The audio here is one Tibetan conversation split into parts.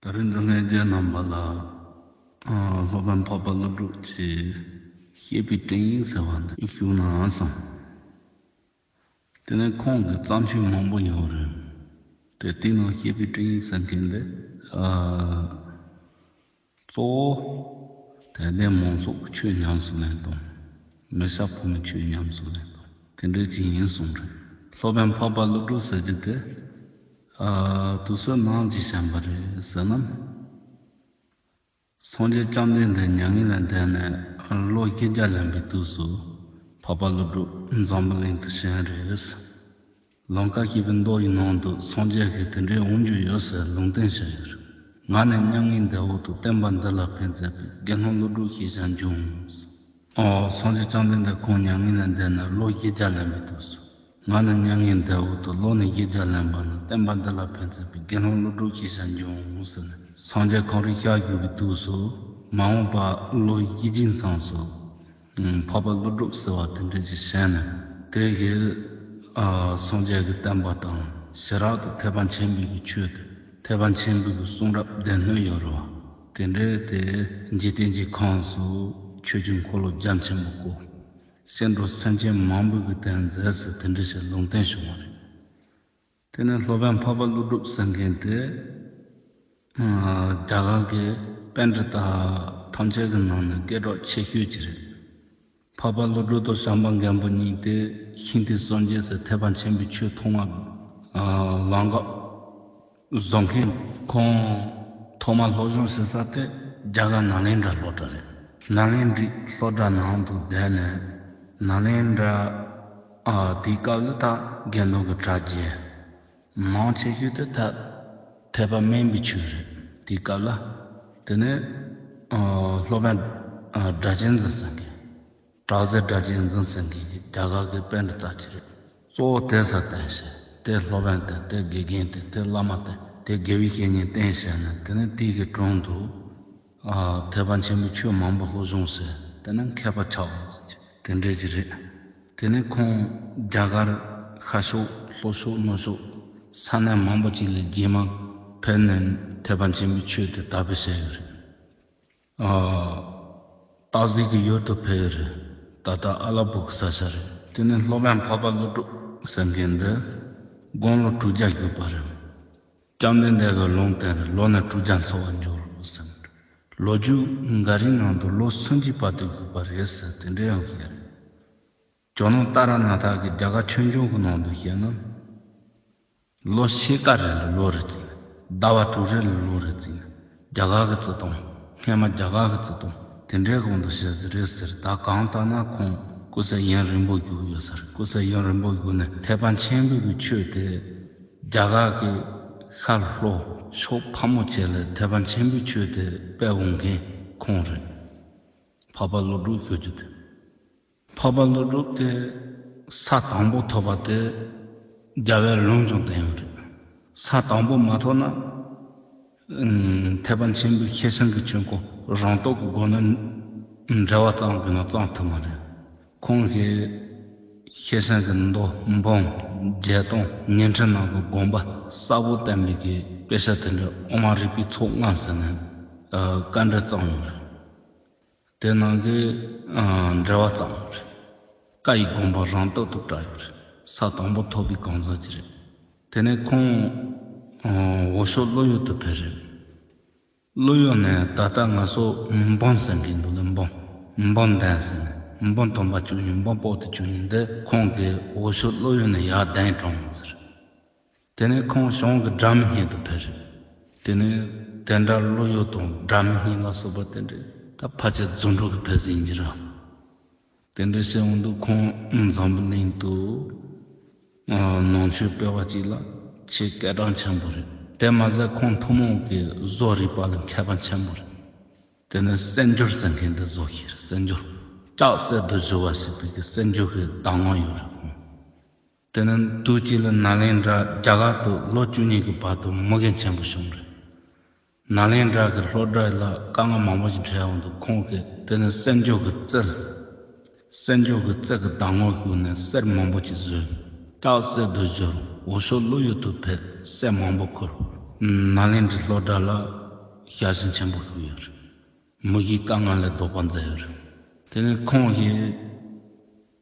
ད་རེས་འདི་ལྷན་རྒྱས་རྣམ་པ་ལ་སློབ་དཔོན་འཕགས་པ་ཀླུ་སྒྲུབ་ཀྱིས་བཤད་པའི་དྲན་ཡིག་ཟེར་བ་འདི་ཞུ་ན་བསམ། དེ་ནས་ཁོང་གི་བརྩམས་ཆོས་མང་པོ་ཡོད་རེད་དེ་དེའི་ནང་བཤད་པའི་དྲན་ཡིག་ཟེར་མཁན་འདི། གཙོ་བོ། དད་ལྡན་མང་ཚོགས་ཆོས་ཉམས་སུ་ལེན་དང། མི་ཤ་ཕོ་མོ་ཆོས་ཉམས་སུ་ལེན་དང། དེ་འདྲའི་ཅིག་ཡིན་གསུངས་རེད། སློབ་དཔོན་འཕགས་པ་ཀླུ་སྒྲུབ་ཟེར་རྒྱུ་དེ། དུས་སུ་ནང་གྱི་བྱམས་པ་རེད་ཟེར་ནམ། སངས་རྒྱས་བཅོམ་ལྡན་འདས་མྱ་ངན་ལས་འདས་ནས་ལོ་བསྐལ་བརྒྱ་ལོན་པའི་དུས་སུ་འཕགས་པ་ཀླུ་སྒྲུབ་འཛམ་བུ་གླིང་དུ་བྱོན་རེད། ལུང་ཁ་ཤས་པའི་མདོག་ཡིན་སྣང་འདུག་སངས་རྒྱས་ཤིག་དེ་འདྲའི་འོང་རྒྱུ་ཡོད་ཟེར་ལུང་བསྟན་བྱས་ཡོད་རེད། ང་ནི་མྱ་ངན་འདས་འོག་ཏུ་བསྟན་པ་འདི་ལ་ཕན་མཛད་པའི་དགེ་སློང་ཀླུ་སྒྲུབ་ཞེས་ཀྱང་འབྱུང། སངས་རྒྱས་བཅོམ་ལྡན་འདས་ཁོང་མྱ་ངན་ལས་འདས་ནས་ལོ་བཞི་བརྒྱ་ལན་པའི་དུས་སུ། ང་ནི་མྱ་ངན་འདས་འོག་ཏུ་ལོ་ནི་བཞི་བརྒྱ་ལན་པ་ན་བསྟན་པ་འདི་ལ་ཕན་མཛད་པའི་དགེ་སློང་ཀླུ་སྒྲུབ་ཞེས་ཀྱང་འབྱུང་ཟེར་ནས་སངས་རྒྱས་གངས་རིའི་ཤར་བཞུགས་པའི་དུས་སུ། མ་འོངས་པ་ལོ་བཞི་བཅུའི་མཚམས་སུ། འཕགས་པ་ཀླུ་སྒྲུབ་ཟེར་བ་དེ་འདྲས་ཀྱི་ཞལ་ནས། དེ་ཡིས་སངས་རྒྱས་ཀྱི་བསྟན་པ་དང་ཞི་རགས་དང་ཐེག་པ་ཆེན་པོའི་གྱི་ཆོས་དང་ཐེག་པ་ཆེན་པོའི་གྱི་གསུང་རབ་བདེན་སྣོད་ཡོད་རེད་བ། དེ་འདྲས་དེ་འཇིག་རྟེན་གྱི་ཁམས་སུ་ཆོས་ཀྱི་འཁོར་ལོ་རྒྱ་ཆེན་པོ་བསྐོར། སྐྱེ་འགྲོ་སེམས་ཅན་མང་པོའི་གྱི་དེར་མཛད་ཟེར་དེ་འདྲས་ཞེས་ལུང་བསྟན་བྱུང་བ་རེད། དེ་ནས་སློབ་དཔོན་འཕགས་པ་ཀླུ་སྒྲུབ་སེང་མཁན་དེས། རྒྱ་གར་གྱི་དཔེ་འབྲི་དག་ཐམས་ཅད་ཀྱི་ནང་ནས་སྐད་གྲོགས་ཆེ་ཤོས་ཀྱི་རེད། འཕགས་པ་ཀླུ་སྒྲུབ་དང་ཤངས་པ་མཁན་པོ་གཉིས་དེ་ཧིན་དྷི་སངས་རྒྱས་སུ་ཐེག་པ་ཆེན་པོའི་ཆོས་མཐོང་བ་ལམ་འགག་བཟོ་མཁན། ཁོང་ཐོག་མར་སློབ་སྦྱོང་བྱེད་ས་དེ་རྒྱ་གར་ནཱ་ལེནྡྲ་སློབ་གྲྭ་རེད། ནཱ་ལེནྡྲའི་སློབ་གྲྭ་ནང་དུ་བསྡད་ནས་ནཱ་ལེནྡྲ། དེའི་སྐབས་ལ་དྭགས་རྒྱལ་མདོ་གི་གྲྭ་རྒྱལ་མང་ཆེ་ཤོས་དེ་ཐ་དད་པ་སྨན་པའི་ཆོས་རེད། དེའི་སྐབས་ལ་དེ་ནས་སློབ་དཔོན་སྒྲ་གཅན་འཛིན་སེང་གེ་གྲགས་རྩལ་སྒྲ་གཅན་འཛིན་སེང་གེ་གིས་རྒྱ་གར་གྱི་དཔེ་འདི་དག་ཅི་རེད། གཙོ་བོ་དེ་ས་བསྟན་བྱས་དེ་སློབ་དཔོན་བསྟན་དེ་དགེ་རྒན་བསྟན་དེ་བླ་མ་བསྟན་དེ་དགེ་བའི་བཤེས་གཉེན་བསྟན་བྱས་ནས་དེ་ནས་དུས་ཀྱི་དྲུང་དུ། ཐེག་པ་ཆེན་པོའི་ཆོས་མང་པོ་ལྷོ་གཞུང་སེ། དེ་རྣམས་མཁས་པ་ཆགས་ཟིན་ཅིག། དེ་འདྲས་ཀྱི་རེད། དེ་ནས་ཁོང་རྒྱ་གར་ཤར་ཕྱོགས་ལྷོ་ཕྱོགས་སྣོད་ཕྱོགས་ས་གནས་མང་པོ་ཅིག་ལས་རྒྱས་མ་ཕེབས་ནས་ཐེག་པ་ཆེན་པོའི་ཆོས་དེ་དར་སྤེལ་བྱས་ཡོད་རེད། སྟག་གཟིག་གི་ཡུལ་དུ་ཕེབས་ཡོད་རེད། ད་ལྟ་ཨ་ལ་པོ་གི་ས་ཆ་རེད། དེ་ནས་ལྷོ་བན་འཕགས་པ་ཀླུ་སྒྲུབ་ཟེར་མཁན་འདི་དགོང་ལོ་དྲུག་བརྒྱ་བརྒྱུད་པ་རེད། བཅོམ་ལྡན་འདས་ཀྱི་ལུང་བསྟན་ལོ་ན་དྲུག་བརྒྱ་འཚོ་བར་འགྱུར་རོ་ཟེར། ལོ་རྒྱུས་འགའ་རེའི་ནང་དུ་ལོ་སུམ་ཅུའི་བར་དུ་བཞུགས་པ་རེད་ཟེར་དེ་འདྲའི་ཡང་ཞིག་རེད། ཇོ་ནང་ཏཱ་ར་ནཱ་ཐ་གི་རྒྱ་གར་ཆོས་འབྱུང་གི་ནང་དུ་བཤད་ན། ལོ་ཕྱེད་ཀ་རེ་ལ་ལོ་རེ་བརྩིས་ནས། ཟླ་བ་དྲུག་རེ་ལ་ལོ་རེ་བརྩིས་ནས། རྒྱ་གར་གྱི་རྩི་དང། སྔས་མ་རྒྱ་གར་གྱི་རྩི་དང། དེ་འདྲའི་གོང་དུ་བཤད་རྩི་རེད་ཟེར་ད་གང་ལྟར་ན་ཁོང་སྐུ་ཚེ་དབྱིངས་རིང་པོ་བཞུགས་ཡོད་ཟེར་སྐུ་ཚེ་དབྱིངས་རིང་པོ་བཞུགས་ནས་ཐེག་པ་ཆེན་པོའི་གི་ཆོས་དེ་རྒྱ་གར་གྱི་ཤར་ལྷོ་ཕྱོགས་ཕག་མོ་བཅས་ལ་ཐེག་པ་ཆེན་པོའི་ཆོས་དེ་སྤེལ་འོང་མཁན་ཁོང་རེད་འཕགས་པ་བློ་གྲོས་ཁྱོད་ཀྱི་དེ། འཕགས་པ་ཀླུ་སྒྲུབ་དེ་ས་དང་པོ་ཐོབ་པ་དེ་རྒྱལ་བའི་ལུང་ཀྱང་བསྟན་ཡོད་རེད། ས་དང་པོ་མ་ཐོབ་ན་ཐེག་པ་ཆེན་པོའི་ཁྱད་བསང་གི་ཆོས་འཁོར་རང་རྟོགས་ཀྱི་སྒོ་ནས་འགྲེལ་བ་གཙང་དགོས་ན་གཙང་ཐུབ་མ་རེད། ཁོང་གིས་ཁྱད་བསང་གི་མདོ་འབུམ་བརྒྱད་སྟོང་ཉིན་ཁྲི་ནང་དུ་དགོངས་པ་གསལ་བོ་བསྟན་མེད་ཀི་དཔེ་ཆ་དེ་འདྲ་དབུ་མ་རིག་པའི་ཚོགས་ལྔ་ཟེར་ནས་བཀའ་འདྲི་གཙང་ཡོད་རེད། དེ་ནང་གི་འགྲེལ་བ་ཙམ་རེད། བཀའ་ཡི་དགོངས་པ་རང་རྟག་ཏུ་བཀྲ་ཡོད་རེད། ས་དང་པོ་ཐོབ་པའི་གང་ཟག་ཅིག་རེད། དེ་ནས་ཁོང་འོ་ཞོ་བློ་ཡུལ་དུ་ཕེབས་རེད། བློ་ཡུལ་ནས་ད་ལྟ་ང་ཚོ་མི་འབངས་ཟེར་གྱི་འདུག་ལ་འབངས་མི་འབངས་འདན་ཟེར་ནས་མི་འབངས་སྟོང་པ་བཅུ་གཉིས་འབངས་དཔོག་ཏུ་བཅུ་གཉིས་འདི་ཁོང་གིས་འོ་ཞོ་བློ་ཡུལ་ནས་ཡར་གདན་དྲངས་ཟེར། དེ་ནས་ཁོང་གཞུང་གི་སྒྲ་མི་སྙན་དུ་ཕེབས། དེ་ནས་དེ་འདྲ་བློ་གཡོ་དང་སྒྲ་མི་སྙན་ལ་སོགས་པ་དེ་འདྲས། ད་ཕ་ཆད་རྫུན་སྒྲོག་གི་ཕེབས་ཟིན་གྱི་རང། དེ་འདྲས་བཤད་འོང་དུས་ཁོང་འཛམ་བུ་གླིང་དུ། ནང་ཆོས་སྤེལ་བ་གཅིག་ལ་ཆེས་སྐད་གྲགས་ཆེན་པོ་རེད། དེ་མ་ཟད་ཁོང་ཐུན་མོང་གི་བཟོ་རིག་པ་ལ་མཁས་པ་ཆེན་པོ་རེད། དེ་ནས་གསེར་འགྱུར་ཟེར་མཁན་དེ་བཟོ་ཤེས་རེད་གསེར་འགྱུར། ལྕགས་གསེར་དུ་བཞུ་བ་ཞིག་པའི་གསེར་འགྱུར་གྱི་བདག་དབང་ཡོད་རེད་ཁོང། དེ་ནི་དུས་གཅིག་ལ་ནཱ་ལེནྡྲ་རྒྱ་གར་དུ་ལོ་བཅུ་གཉིས་ཀྱི་བར་དུ་མི་རྒན་ཆེན་པོ་བྱུང་རེད། ནཱ་ལེནྡྲ་གྱི་ལྷོ་བྲག་ལ་དཀའ་ངལ་མང་པོ་ཞིག་འཕྲད་འོང་དུས་ཁོང་གིས་དེ་ནི་གསེར་མཇུག་གི་རྩེར། གསེར་མཇུག་གི་རྩེ་གི་བདག་མོར་བཞུགས་ནས་གསེར་མང་པོ་ཞིག་བཟོས། སྟག་གསེར་དུ་བཞུར་འོ་ཞོ་ཀླུ་ཡུལ་དུ་ཕེབས་གསེར་མང་པོ་ཁུར། ནཱ་ལེནྡྲའི་ལྷོ་བྲག་ལ་ཞལ་ཞེན་ཆེན་པོ་བཞུགས་ཡོད་རེད། མི་གཞིའི་དཀའ་ངལ་ལས་ལྡོག་པར་མཛད་ཡོད་རེད། དེ་ནི་ཁོང་གིས།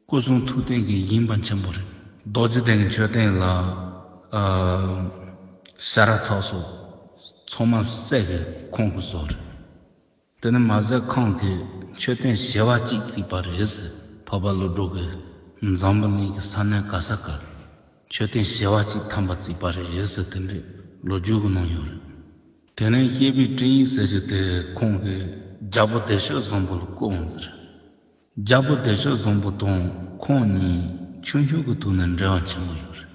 སྐུ་གསུང་ཐུགས་རྟེན་གྱི་དབྱིངས་དཔའ་ཆེན་པོ་རེད། རྡོ་རྗེ་གདན་གྱི་མཆོད་རྟེན་ལ། ཤ་ར་ཚག་སོགས་ཚོགས་མ་ཟད་ཀྱི་ཁོང་གི་བཟོ་རེད། དེ་ནི་མ་ཟད་ཁང་གི་མཆོད་རྟེན་བྱེ་བ་གཅིག་བརྩིགས་པ་རེད་ཟེར་འཕགས་པ་ཀླུ་སྒྲུབ་ཀྱི་འཛམ་བུ་གླིང་གི་ས་གནས་ག་ས་གར་མཆོད་རྟེན་བྱེ་བ་གཅིག་ཐམ་པ་བརྩིགས་པ་རེད་ཟེར་དེ་འདྲའི་ལོ་རྒྱུས་ཀྱི་ནང་ཡོད་རེད། དེ་ནས་གཡས་པའི་སྤྲིང་ཡིག་ཟེར་གྱི་དེ་ཁོང་གི་རྒྱལ་པོ་བདེ་གཤེགས་བཟང་པོ་ལ་བསྐུར་འོང་གི་རེད། རྒྱལ་པོ་བདེ་མཆོག་བཟང་པོ་དང་ཁོང་གཉིས་ཆུང་ཆུང་གི་དུས་ནས་འབྲེལ་བ་ཆེན་པོ་ཡོད་རེད།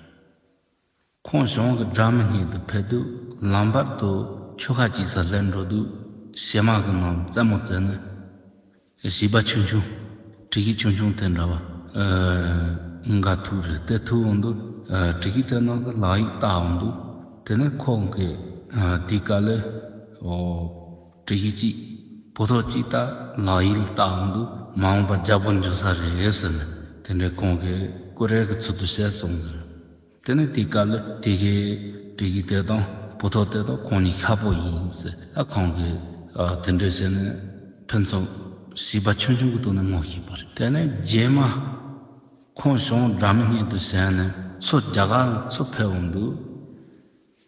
ཁོང་གཞུང་གི་སྦྲགས་མི་སྙེད་དུ་ཕེབས་དུས་ལམ་བར་དུ་ཆོལ་ཁ་གཅིག་སར་སླེབས་འགྲོ་དུས་བྱེ་དམག་གི་ནང་རྩེད་མོ་རྩེ་ནས། བྱིས་པ་ཆུང་ཆུང་གྲི་ཤུད་ཆུང་ཆུང་དེ་འདྲ་བ་འགའ་ཐུག་རེད་དེ་ཐུག་འོང་དུས་གྲི་ཤུད་དེ་ནང་གི་ལག་ཡིག་བལྟ་འོང་དུས་དེ་ནས་ཁོང་གིས་དེའི་སྐབས་ལས། དྲི་གཞི་གཅིག། བུ་ཐོག་གཅིག་ལྟར་ལག་ཡིག་ལ་ལྟ་འམ་འདུག་མ་འོངས་པར་འཇགས་པོ་འཇོག་ས་རེད་ཟེར་ནས་དེ་འདྲའི་གོང་གི་ཀུ་རེ་གི་ཚུལ་དུ་བཤད་སོང་ཟེར། དེ་ནས་དེའི་སྐབས་ལ་དེ་གའི་དྲི་གཞི་དེ་དང་བུ་ཐོག་དེ་དག་ཁོང་གཉིས་ཁ་པོ་ཡིན་ཟེར་ཨ་ཁོང་གིས་དེ་འདྲས་བྱས་ནས་ཕུན་ཚོགས་བྱིས་པ་ཆུང་ཆུང་གི་སྟུག་ནས་སྔོག་བཤིག་པ་རེད། དེ་ནས་རྗེས་མ་ཁོང་གཞུང་འདྲ་མིན་སྙན་དུ་བྱས་ནས་ཚོ་རྒྱ་གར་ལ་ཚུར་ཕེབས་འམ་འདུག་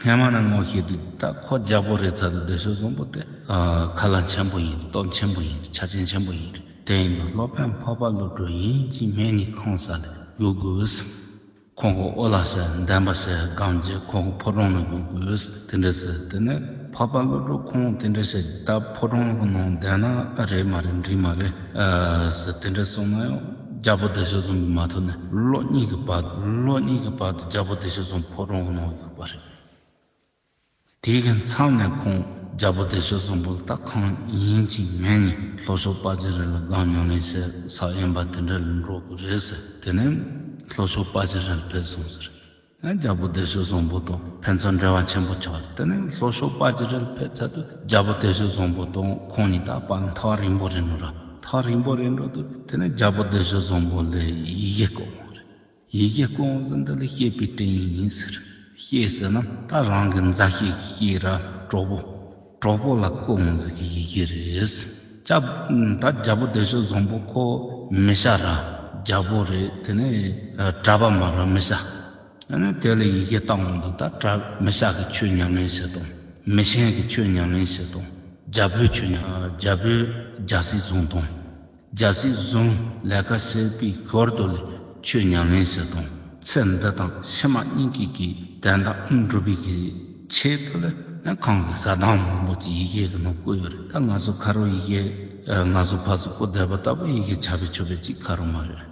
སྔན་མ་ན་ངོ་ཤེས་དུས་ད་ཁོ་རྒྱ་བོད་རེད་ཚ་དུས་བདེ་ཞོ་བཟང་པོ་དེ་ཁ་ལ་འཆན་པོ་ཡིན་སྟོབས་འཆན་པོ་ཡིན་ཆ་རྐྱེན་འཆན་པོ་ཡིན་རེད་དེ་ཡིན་ན་སློབ་དཔོན་འཕགས་པ་བློ་གྲོས་ཡིན་གྱི་སྨན་ནི་ཁང་ས་ལས་རྒྱུག་དགོས། ཁོང་གི་ཨོ་ལ་ཟེར་འདན་པ་ཟེར་སྒང་རྗེས་ཁོང་གི་ཕོ་བྲང་ནས་རྒྱུག་དགོས་དེ་འདྲ་ཟེར་དེ་ནས། འཕགས་པ་བློ་གྲོས་ཁོང་དེ་འདྲ་བྱས་ད་ཕོ་བྲང་གི་ནང་བསྡད་ན་རེད་མ་རེད་འགྲིག་མ་རེད་དེ་འདྲ་གསུངས་ན་ཡང་རྒྱ་པོ་བདེ་གཤེགས་རྫོང་གི་མ་ཐོན་ནས་ལོ་གཉིས་ཀྱི་བར་དུ་ལོ་གཉིས་ཀྱི་བར་དུ་རྒྱ་པོ་བདེ་གཤེགས་རྫོང་ཕོ་བྲང་གི་ནང་བསྒྱུར་བ་རེད། དེ་གི་མཚམས་ནས་ཁོང་རྒྱ་པོ་བདེ་གཤེགས་རྫོང་ཕུ་ཐག་ཁང་ཡིན་གཅིག་མིན་གཉིས་ལྷོ་ཕྱོགས་དཔའ་རྗེ་རི་ལ་སྒང་ཉོ་ལེན་བྱས་ས་ཡིན་པ་དེ་འདྲ་ལ་འགྲོ་དགོས་རེད་ཟེར་དེ་ནས་ལྷོ་ཕྱོགས་དཔའ་རྗེ་རི་ལ་ཕེབས་སོང་ཟེར། རྒྱལ་པོ་བདེ་གཤེགས་བཟང་པོ་དང་ཕན་ཚུན་འབྲེལ་བ་ཆེན་པོ་ཆགས། དེ་ནས་ལྷོ་ཕྱོགས་དཔའ་བརྗིད་རལ་པའི་ཚལ་དུ་རྒྱལ་པོ་བདེ་གཤེགས་བཟང་པོ་དང་ཁོང་གཉིས་དག་པ་མཐའ་བ་རིང་པོ་རེ་འགྲོ། མཐའ་བ་རིང་པོ་རེ་འགྲོ་དུས་དེ་ནས་རྒྱལ་པོ་བདེ་གཤེགས་བཟང་པོ་ལས་ཡི་གེ་བཀོད་འོང། ཡི་གེ་བཀོད་འོང་ཟེར་འདི་ལ་ཤེས་པའི་དྲིན་ཡིན་ཟེར། ཤེས་ཟེར་ན་ད་རང་གི་མཛའ་བཤེས་ཀྱི་ཤེས་རབ་གྲོགས་པོ། གྲོགས་པོ་ལ་སྐུ་དབང་ཟེར་གྱི་ཡི་གེ་རེད། ད་རྒྱ་པོ་བདེ་ཆོས་བཟང་པོ་ཁོ་མི་ཤ་ར་རྒྱ་པོ་རེད་དེ་ནས་གྲྭ་པ་མ་ར་མི་ཤ་དེ་ལ་ཡི་གེ་བཏང་བ་འདུག་ད་གྲྭ་མི་ཤ་གི་ཆོས་ཉམས་ལེན་བྱེད་དང་མི་ཤན་གི་ཆོས་ཉམས་ལེན་བྱེད་དང་རྒྱ་བོད་ཆོས་ཉམས་རྒྱ་བོད་རྒྱ་སྲིད་བཟུང་དང། རྒྱ་སྲིད་བཟུང་ལས་ཀ་བྱེད་པའི་ཞོར་དུ་ལས་ཕྱོད་ཉམས་ལེན་བྱེད་དང་ཚེ་འདི་དང་ཕྱི་མ་གཉིས་ཀྱི་གི་དོན་དག་སྒྲུབ་པའི་གི་ཆེད་དུ་ལས་ནི་གང་གི་ག་དང་མང་པོ་གྱི་ཡི་གེ་གི་ནང་བཀོད་ཡོད་རེད་ད་ང་ཚོ་ཁ་རུ་ཡི་གེ་ང་ཚོ་ཕ་གཟུགས་པོ་བསྡད་པ་ལྟ་བུ་ཡི་གེ་ཆ་བེད་ཆོད་བེད་ཅིག་ཁ་རུ་མ་རེད་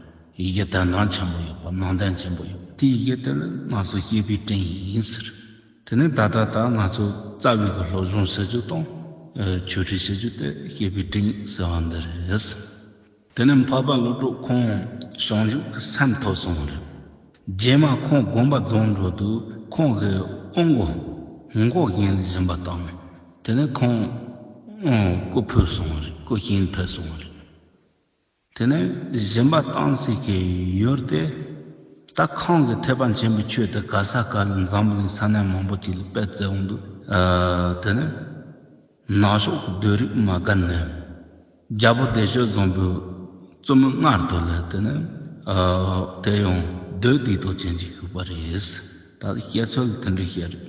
ཡི་གེ་དོན་དང་ཆེན་པོ་ཡོད་པ་ནང་དོན་ཆེན་པོ་ཡོད་པ་དེ་ཡི་གེ་དེ་ལས་ང་ཚོ་ཤེས་པའི་དྲིན་ཡིན་ཟེར། དེ་ནི་ད་ལྟ་ད་ང་ཚོ་རྩ་བའི་གི་སློབ་སྦྱོང་བྱེད་རྒྱུ་དང། ཆོས་ཁྲིད་བྱེད་རྒྱུ་དེ་ཤེས་པའི་དྲིན་ཟེར་བ་འདི་རེད། དེ་ནི་འཕགས་པ་ཀླུ་སྒྲུབ་ཁོང་བྱང་ཆུབ་ཀྱི་སེམས་ཐོབ་སོང་བ་རེད། རྗེས་མ་ཁོང་དགོན་པ་རྫོང་འགྲོ་དུས་ཁོང་གི་དབོན་འགོ། འགོ་རྒན་བཞིན་པ་དང། དེ་ནས་ཁོང་སྐུ་འཕོས་སོང་བ་རེད་སྐུ་གཤེན་འཕེལ་སོང་བ་རེད། དེ་ནས་གཞན་པ་སྟངས་ཚིག་གི་ཡུལ་ཏེ། ད་ཁང་གི་ཐེག་པ་ཆེན་པོའི་ཆོས་དེ་ག་ས་ག་ལ་འཛམ་བུ་གླིང་ས་གནས་མང་པོ་ཅིག་ལ་སྤེལ་བསྩལ་འོང་དུས། དེ་ནས་ནག་ཕྱོགས་ཀྱི་སྡོད་རིགས་མ་སྒར་ནས་རྒྱལ་པོ་བདེ་ཆོས་བཟང་པོའི་བཙུན་མོ་མངལ་དུ་ལས་དེ་ནས་དེ་ཡང་སྡོད་སྡིག་ཏོ་ཅན་ཅིག་བཞུགས་པ་རེད། ད་སྐྱེས་ཚུལ་དེ་འདྲ་ཤེས་རེད།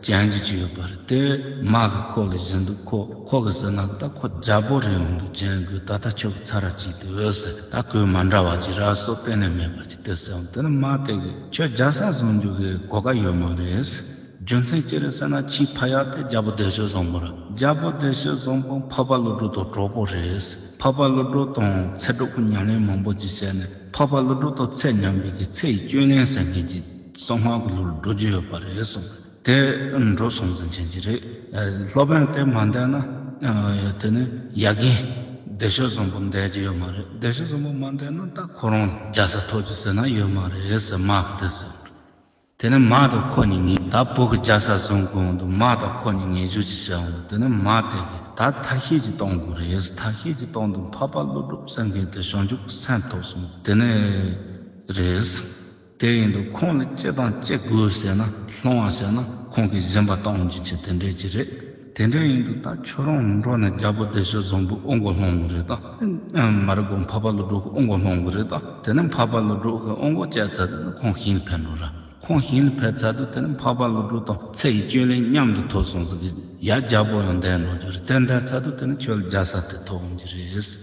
ཅན་གྱི་ཅི་ཡོད་པ་རེད་དེ། མ་གི་ཁོག་ལས་གཞན་དུ་ཁོ་ཁོ་གི་ཟེར་ན་གི་ད་ཁོ་རྒྱ་བོ་རེད་འོང་དུ་ཅན་གི་ད་ལྟ་ཁྱོད་ཀྱི་ཚ་ར་གཅིག་དེ་འོད་ཟེར་ད་གོས་མ་འདྲ་བ་གྱི་ར་སོགས་གཏན་ནས་མེད་པ་ཅིག་དེ་ཟེར་འོང་དེ་ནི་མ་དེ་གི་ཁྱོད་རྒྱ་ས་བཟུང་རྒྱུ་གི་གོ་དཀའ་ཡོད་མ་རེད། རྒྱུ་མཚན་ཅི་རེད་ཟེར་ན་ཁྱིའི་ཕ་ཡག་དེ་རྒྱ་བོ་བདེ་ཞོལ་བཟང་པོ་ར་རྒྱ་བོ་བདེ་ཞོལ་བཟང་པོ་འཕགས་པ་ཀླུ་སྒྲུབ་དང་གྲོགས་པོ་རེད། འཕགས་པ་ཀླུ་སྒྲུབ་དང་ཚེ་སྒྲུབ་ཀྱི་ཉམས་ལེན་མང་པོ་ཅིག་བྱས་ནས་འཕགས་པ་ཀླུ་སྒྲུབ་དང་ཚེ་ཉམས་པའི་གི་ཚེ་ཡི་སྐྱོན་ལན་ཟེར་མཁན་གྱི། སོག་དམག་གི་ལུར་འགྲོ་རྒྱུ་ཡོད་པ་རེད་གསུངས་དེ་འགྲོ་སོང་ཟིན་བྱེད་ཀྱི་རེད། སློབ་དཔོན་དེ་མ་འདས་ན་དེ་ནི་ཡ་གི་སྡེ་ཤོད་བཟང་པོ་འདས་ཀྱི་ཡོད་མ་རེད་སྡེ་ཤོད་བཟང་པོ་མ་འདས་ན་ད་ཁོ་རང་རྒྱ་ས་ཐོག་གི་ཟེར་ན་ཡོད་མ་རེད་ཟེར་དམག་དེ་ཟེར་འགྲོ། དེ་ནི་དམག་དེ་ཁོ་གཉིས་ངེས། ད་བོད་ཀྱི་རྒྱ་ས་བཟུང་དགོས་འོང་དུ་དམག་དེ་ཁོ་གཉིས་ངེས་འཇུག་ཅིག་བྱས་འོང་དུ་དེ་ནི་དམག་དེ་གི་ད་ཐ་ཤལ་གྱི་གཏོང་དགོས་རེད་ཐ་ཤལ་གྱི་གཏོང་དུ་འཕགས་པ་ཀླུ་སྒྲུབ་སེང་གེ་དེ་ཞང་ཆུང་གི་སེམས་ཐོག་སོང་ཟིན་དེ་ནི་རེད། དེ་ཡིན་དུ་ཁོང་ལ་ཅི་དང་ཅི་དགོས་ཟེར་ན་སློང་བ་བྱས་ན་ཁོང་གིས་གཞན་པ་གཏོང་རྒྱུ་ཆེ་དེ་འདྲས་ཀྱི་རེད། དེ་འདྲས་ཡིན་དུ་ད་ཁྱོད་རང་མི་འགྲོ་ན་རྒྱ་བོད་སྡེ་ཤོད་བཟང་པོའི་ཨོ་འགོ་སློང་གི་རེད་ད། མ་རེད་གོ་འཕགས་པ་ལོ་སྒྲོག་གི་ཨོ་འགོ་སློང་གི་རེད་ད་དེ་ནས་འཕགས་པ་ལོ་སྒྲོག་གི་ཨོ་འགོ་བཅད་ཚར་དུས་ན་ཁོང་ཞིང་ལ་ཕེབས་འགྲོ་ར། ཁོང་ཞིང་ལ་ཕེབས་ཚར་དུས་དེ་ནས་འཕགས་པ་ལོ་སྒྲོག་དང་ཚེ་ཡི་སྐྱོན་ལན་མཉམ་དུ་ཐོབ་སོང་ཟེར་གི་ཡ་རྒྱ་བོད་ཡང་འདས་འགྲོ་རྒྱུ་རེད་དེ་འདས་ཚར་དུས་དེ་ནས་ཁྱོད་ལ་རྒྱ་ས་དེ་ཐོབ་འོང་གི་རེད།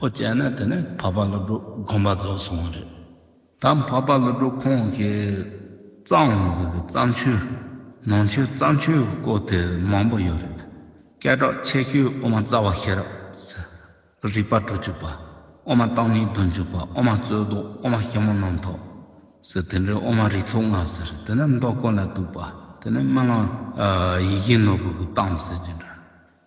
ཨོ་བྱས་ན་དེ་ནི་འཕགས་པ་ཀླུ་སྒྲུབ་དགོངས་པ་རྫོགས་སོང་བ་རེད། ད་འཕགས་པ་ཀླུ་སྒྲུབ་ཁོང་གིས་བརྩམས་ཟིན་པའི་བརྩམས་ཆོས་ནང་ཆོས་བརྩམས་ཆོས་ཀྱི་སྐོར་དེ་མང་པོ་ཡོད་རེད། སྐད་གྲགས་ཆེ་ཤོས་དབུ་མ་རྩ་བ་ཤེས་རབ་ཟེར། རིག་པ་བྲོ་བཅུག་པ། དབུ་མ་བརྟག་གཉིས་བདུན་བཅུག་པ་དབུ་མ་རྩོད་ཟློག་དབུ་མ་ཞིབ་མོ་རྣམ་རྟོག་ཟེར་དེ་འདྲའི་དབུ་མ་རིགས་ཚོགས་ལྔ་ཟེར་དེ་ནི་མདོ་དཀོན་ལ་གཏུགས་པ་དེ་ནི་རྨི་ལམ་ཡིད་བཞིན་ནོར་བུ་གི་གཏམ་ཟེར་གྱི་འདྲ།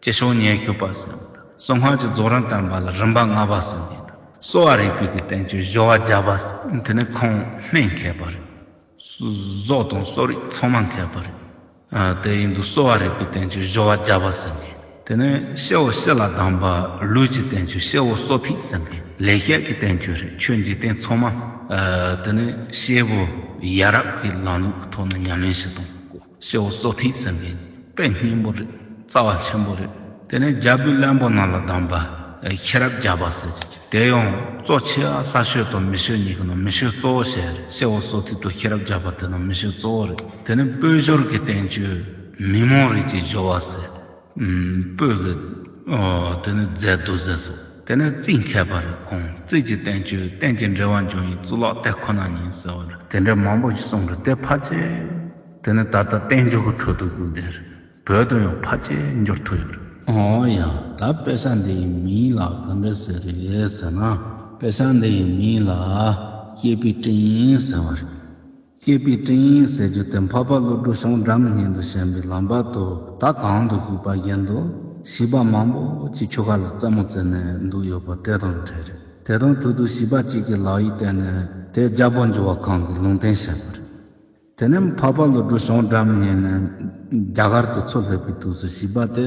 ཅི་བྱུང་སྙན་ཞུ་པར་གསན་པ་དང། གསང་སྔགས་ཀྱི་རྫོགས་རིམ་བསྟན་པ་ལ་རིམ་པ་ལྔ་པ་གསན་མཁན་དང། གསོ་བ་རིག་པའི་དུས་བསྟན་ཆོས་བཞི་བ་བརྒྱ་པ། དེ་ནི་ཁོང་སྨན་མཁས་པ་རེད། བཟོ་དང་གསོ་རིག་ཚང་མ་མཁས་པ་རེད། དེ་ཡིན་དུས་གསོ་བ་རིག་པའི་བསྟན་ཆོས་བཞི་བ་བརྒྱ་པ་གསན་མཁན། དེ་ནི་གཤེ་བོ་གཤེ་ལ་གདམས་པ་ལུས་ཀྱི་བསྟན་ཆོས་གཤེ་བོ་གསོ་ཐིག་གསན་མཁན། ལེགས་བཤད་ཀྱི་བསྟན་ཆོས་རེད་ཆོས་འཇིག་རྟེན་ཚང་མ། དེ་ནི་གཤེ་བོ་ཡ་རབས་ཀྱི་ལམ་ལུགས་ཐོག་ནས་ཉམས་ལེན་ཞིག་དང། སེའུ་བཙོ་ཐིག་ཟེར་བའི་དཔེ་སྙིང་པོ་རེད་རྩ་བ་ཆེན་པོ་རེད་དེ་ནས་རྒྱ་བོད་བློན་པོ་རྣམས་ལ་བདམས་པ་ཤེས་རབ་རྒྱ་བ་ཟེར་དེ་ཡང་བཙོ་ཆེ་བ་ལྷ་ཤོད་དང་མི་ཤོད་གཉིས་ཀྱི་ནང་མི་ཤོད་གཙོ་བོ་ཞེས་རེད་སེའུ་བཙོ་ཐིག་དང་ཤེས་རབ་རྒྱ་བ་དེ་རྣམས་མི་ཤོད་གཙོ་བོ་རེད་དེ་ནས་སྤོས་ཞོར་གྱི་བསྟན་བཅོས་མི་མང་རིགས་ཀྱི་སྦྱོར་བ་ཟེར། སྤོས་ཀྱི། དེ་ནི་རྫས་རྡོ་རྫས་སོ། དེ་ནི་རྩིས་མཁས་པར་དགོངས་རྩིས་ཀྱི་བསྟན་བཅོས་གཏན་གྱི་འགྲེལ་བ་འབྱུང་ཡིག་གཙུག་ལག་དེ་ཁོ་ན་ཡིན་ཟེར་བར། དེ་འདྲ་མང་པོ་ཞིག་གསུངས་འདུག་དེ་ཕར་ཆེར། དེ་ནི་ད་ལྟ་བསྟན་བཅོས་ཀྱི་ཁྲོད་དུ་གུག་འདེར་བོད་དུ་ཡང་ཕར་ཆེར་འགྱུར་ཐུབ་ཡོད། འོན་ཡང་ད་དཔེ་ཆ་འདིའི་མིང་ལ་གང་འདྲ་ཟེར་རེད་ཟེར་ན། དཔེ་ཆ་འདིའི་མིང་ལ་སྐྱེས་པའི་སྤྲིན་ཟེར་བ་རེད། སྐྱེས་པའི་སྤྲིན་ཡིན་ཟེར་རྒྱུ་དེ་འཕགས་པ་ཀླུ་སྒྲུབ་ཤོང་འགྲམ་སྙན་དུ་བཞེངས་པའི་ལམ་བར་དུ་ད་གང་དུ་བཞུགས་པ་བཞིན་དུ་བྱིས་པ་མང་པོ་ཅིག་ཆུ་ཁ་ལ་རྩེད་མོ་རྩེ་ནས་འདུག་ཡོད་པ་དེ་དང་འདྲ་རེད། དེ་དང་ཐུག་དུས་བྱིས་པ་གཅིག་གིས་ལག་ཡིག་བསྟན་ནས་དེ་རྒྱ་བོད་འབྱོར་བ་ཁང་གི་ལུང་བསྟན་བྱས་པ་རེད། དེ་ནས་འཕགས་པ་ཀླུ་སྒྲུབ་ཤོང་འགྲམ་སྙན་ནས་རྒྱ་གར་དུ་འཚོ་སླེབས་པའི་དུས་སུ་བྱིས་པ་དེ།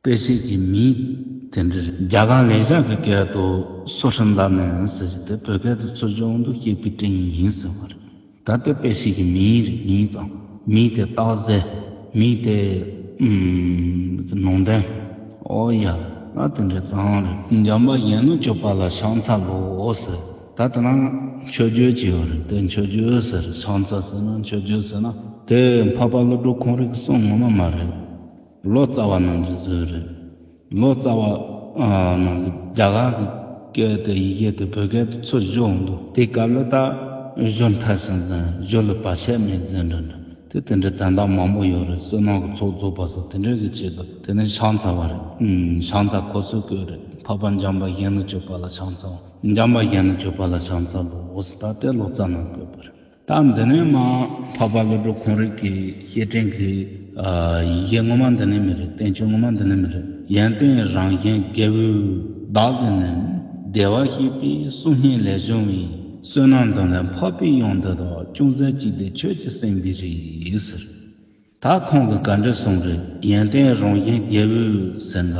དཔེ་ཆེད་ཀྱི་མིང་དེ་འདྲ་རེད། རྒྱ་གར་ལས་ཤག་གི་སྐད་དུ་སོ་ཧྲིན་ལ་ནན་ཟེར་གྱི་དེ་བོད་སྐད་དུ་ཚོ་སྦྱོང་དུ་སྐྱེས་པི་ཀྲིང་ཡིན་ཟེར་བ་རེད། ད་ལྟའི་དཔེ་ཆེད་ཀྱི་མིང་རེད་མིང་ཙམ། མིང་དེ་སྟག་གཟེ། མིང་དེ། ནོར་འདན། ཨོ་ཡ། ང་དེ་འདྲའི་གཙང་རེད། འཇམ་པ་གཞན་ནོ་ཅོ་པ་ལ་ཤང་ཚ་ལོ་ཟེར། ད་དེ་ན་མཆོད་བརྗོད་ཅིག་ཡོད་རེད་དེ་མཆོད་བརྗོད་ཟེར་ཤང་ཚ་ཟེར་ན་མཆོད་བརྗོད་ཟེར་ན་དེ་འཕགས་པ་བློ་གྲོས་ཁོང་རིགས་གསུམ་ངོ་མ་མ་རེད། ལོ་ཙཱ་བ་རྣམས་ཀྱི་ཟུར་རེད། ལོ་ཙཱ་བ་རྣམས་ཀྱི་རྒྱ་གར་གྱི་སྐད་དེ་ཡི་གེ་དེ་བོད་སྐད་དུ་ཚུར་བཞག་འོང་འདུག་དེའི་སྐབས་ལོ་ཙཱ་གཞོན་མཐར་ཕྱིན་ཟིན་གཞོན་ལ་བར་ཆད་མེད་ཟེར་འདྲ་འདྲ་དེ་དེ་འདྲའི་དན་རྟགས་མང་པོ་ཡོད་རེད་བསོད་ནམས་ཀྱི་ཚོགས་རྫོགས་པ་སོགས་དེ་འདྲའི་གི་ཆེད་དུ་དེ་ནི་ཕྱག་འཚལ་བ་རེད། ཕྱག་འཚལ་ཁོ་ཚོའི་སྐོས་རེད་འཕགས་པ་འཇམ་པ་གཞན་ནི་སྤྱོད་པ་ལ་ཕྱག་འཚལ་བ་འཇམ་པ་གཞན་ནི་སྤྱོད་པ་ལ་ཕྱག་འཚལ་བའོ་སི་ད་ལྟའི་ལོ་ཙཱ་རྣམས་བཀོད་པ་རེད། སྟངས་འདི་ནི་མ་འཕགས་པ་བློ་གྲོས་གོང་རིགས་ཀྱི་བཤད་ཕྲེང་གི། ཡི་གེ་ངོ་མ་འདི་ནི་མི་རེད་བསྟན་བཅོས་ངོ་མ་འདི་ནི་མི་རེད་ཡོན་ཏན་རང་བཞིན་རྒྱལ་པོའི་བདག་གི་ནི། བདེ་བར་གཤེགས་པའི་གསུང་སྙན་ལས་བྱུང་བའི། བསོད་ནམས་དང་ལས་འཕགས་པའི་དབྱངས་འདི་དག་ཅུང་ཟད་གཅིག་དེ་ཁྱོད་ཀྱི་སེམས་ཀྱི་རིགས། ད་ཁོང་གི་ག་འདྲས་སོང་རེད་ཡོན་ཏན་རང་བཞིན་རྒྱལ་བོས་ཟེར་མདའ།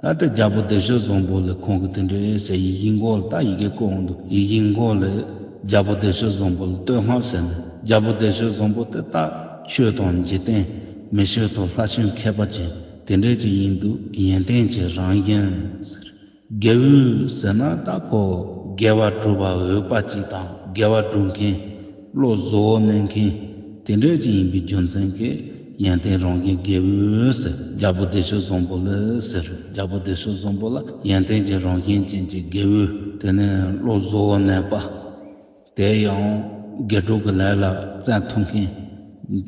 ད་ལྟ་རྒྱལ་པོ་བདེ་ཞོལ་བཟང་པོ་ལས་ཁོང་གི་དེ་འདྲའི་ཨེ་ཟེར་ཡིག་ཡིག་མགོ་ལ་ད་ཡི་གེ་བཀོད་འོང་འདུག་ཡིག་ཡིག་མགོ་ལས་རྒྱལ་པོ་བདེ་ཞོལ་བཟང་པོ་ལ་བསྟོད་བསྔགས་བྱས་ནས་རྒྱལ་པོ་བདེ་ཞོལ་བཟང་པོ་དེ་ལྟ་ཆོས་དང་འཇིག་རྟེན་མི་ཆོས་ཐོག་ལྷ་ཆོས་མཁས་པ་ཅན་དེ་འདྲས་ཅིག་ཡིན་འདུག་ཡོན་ཏན་གྱི་རང་བཞིན་ཟེར། རྒྱལ་བུས་ཟེར་ན་ལྟ་ཁོ་རྒྱལ་བ་གྲུ་པ་འོས་དཔའ་གཅིག་དང་རྒྱལ་བ་སྒྲུབ་མཁན། བློ་བཟོ་བོ་སྨན་མཁན། དེ་འདྲས་ཅིག་ཡིན་པའི་རྒྱུ་མཚན་གྱིས་ཡན་ཏན་རང་གི་རྒྱལ་བུས་རྒྱལ་པོ་བདེ་གཤེགས་བཟང་པོ་ལས་ཟེར་རྒྱལ་པོ་བདེ་གཤེགས་བཟང་པོ་ལ་ཡན་ཏན་གྱི་རང་བཞིན་ཅན་གྱི་རྒྱལ་བུ་དེ་ནི་བློ་བཟོ་བོ་སྨན་པ། དེ་ཡང་དགེ་གྲོགས་ཀྱི་ལས་ལ་བརྩལ་ཐུབ་མཁན་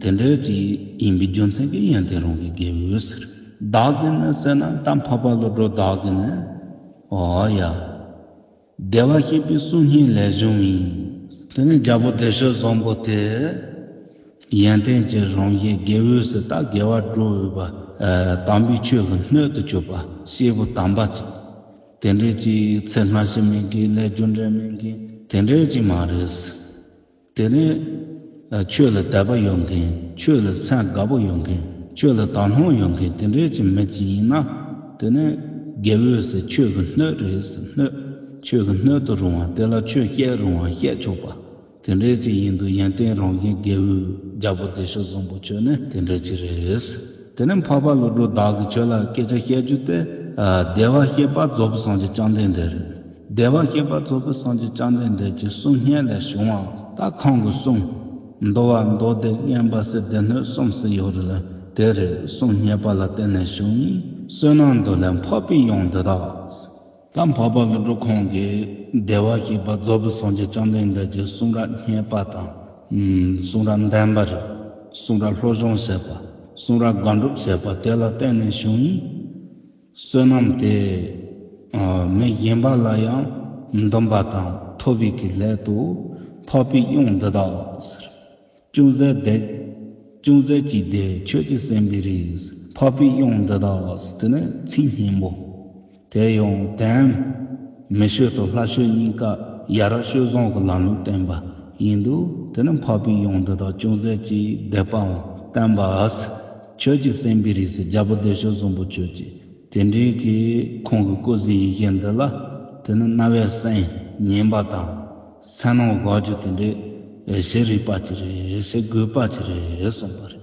དེ་འདྲ་ཅིག་ཡིན་པའི་རྒྱུ་མཚན་གྱིས་ཡང་དེ་རང་གི་དགེ་འོས་ཟེར། བདག་གིས་ནི་བསོད་ནམས་དམ་འཕགས་པ་བློ་གྲོས་བདག་གིས་ནི། ཨོ་ཡ། བདེ་བར་གཤེགས་པའི་གསུང་སྙན་ལས་བྱུང་བའི། དེ་ནས་རྒྱལ་པོ་བདེ་གཤེགས་བཟང་པོ་དེས། ཡོན་ཏན་གྱི་རང་བཞིན་དགེ་འོས་སུ་བདག་དགེ་བ་སྒྲུབ་འོས་པ། དམ་པའི་ཆོས་ལ་སྣོད་དུ་གྱུར་པ་སྐྱེས་བུ་དམ་པ་ཅིག། དེ་འདྲའི་ཅིག་ཚེ་སྔ་ཕྱི་མིན་གྱི་ལས་རྒྱུ་འབྲས་མིན་གྱི་དེ་འདྲའི་ཅིག་མ་རེད། དེ་ནི། ཆོས་ལ་དད་པ་ཡོད་མཁན་ཆོས་ལ་ཚད་དགའ་པོ་ཡོད་མཁན་ཆོས་ལ་དག་སྣང་ཡོད་མཁན་དེ་འདྲའི་ཅིག་མི་ཅིག་ཡིན་ན། དེ་ནི། དགེ་འོས་སེ་ཆོས་ཀྱི་སྣོད་རེད་སེ་སྣོད། ཆོས་ཀྱི་སྣོད་དུ་རུང་བ་དེ་ལ་ཆོས་བཤད་རུང་བ་བཤད་ཆོག་པ། དེ་འདྲའི་ཅིག་ཡིན་འདུག་ཡོན་ཏན་རང་བཞིན་རྒྱལ་བོའི་རྒྱལ་པོ་བདེ་གཤེགས་བཟང་པོ་ཁྱོད་ནི་དེ་འདྲའི་ཅིག་རེད། དེ་ནས་འཕགས་པ་བློ་གྲོས་བདག་གིས་ཁྱོད་ལ་སྐད་ཆ་བཤད་རྒྱུ་དེ། བདེ་བར་གཤེགས་པ་རྫོགས་པའི་སངས་རྒྱས་བཅོམ་ལྡན་འདས་རེད། བདེ་བར་གཤེགས་པ་རྫོགས་པའི་སངས་རྒྱས་བཅོམ་ལྡན་འདས་ཀྱི་གསུང་སྙན་ལས་བྱུང་བ། ལྟ་གང་གི་གསུང། མདོ་བ་མདོ་སྡེ་བསྙེན་པ་སྲིད་སྡེ་སྣོད་གསུམ་སྲིད་ཡོད་རེད་ལ་དེ་རེད་གསུང་སྙན་པ་ལ་བརྟེན་ནས་བྱུང། བསོད་ནམས་འདི་ལས་འཕགས་པའི་དབྱངས་འདི་དག། སྐབས་འཕགས་པ་ཀུན་འགྲོ་ཁོང་གིས་བདེ་བར་གཤེགས་པ་རྫོགས་པའི་སངས་རྒྱས་བཅོམ་ལྡན་འདས་ཀྱི་གསུང་རབ་སྙན་པ་དང། གསུང་རབ་བདེན་པ་རིག། གསུང་རབ་ལྷོ་སྦྱོང་བྱེད་པ། གསུང་རབ་དགག་སྒྲུབ་བྱེད་པ་དེ་ལ་བརྟེན་ནས་བྱུང། བསོད་ནམས་དེ། མི་གཞན་པ་ལ་ཡང་འདོམས་པ་དང་མཐོ་བའི་གི་སླད་དུ། འཕགས་པའི་དབྱིངས་འདི་དག། ཅུང་ཟད་བདེ། ཅུང་ཟད་ཅིག་བདེ་ཁྱོད་ཀྱི་སེམས་པའི་རིས། འཕགས་པའི་དབྱངས་འདི་དག་འདི་ནི་ཚིག་སྙན་པོ། དེ་ཡང་དན། མི་ཤོད་དོ་ལྷ་ཤོད་སྙིང་ཀ་ཡ་ར་ཤོད་བཟང་གི་ལམ་ལུགས་བསྟན་པ་ཡིན་འདུག་དེ་ནི་འཕགས་པའི་དབྱངས་འདི་དག་ཅུང་ཟད་ཅིག་བདེ་པའང་བསྟན་པ། ཁྱོད་ཀྱི་སེམས་པའི་རིས་རྒྱལ་པོ་བདེ་ཤོད་བཟང་པོ་ཁྱོད་ཀྱི། དེ་འབྲེལ་གྱི་ཁོང་གི་སྐུ་གཟི་ཡི་གེ་འདི་ལ་དེ་ནི་རྣ་བའི་སེམས་སྙན་པ་དང། མཚན་ནོ་དགའ་རྒྱུ་དེ་འདྲའི་བཞེས་རིག་པ་ཅི་རེད་བཞེས་དགོས་པ་ཅི་རེད་གསུངས་པ་རེད།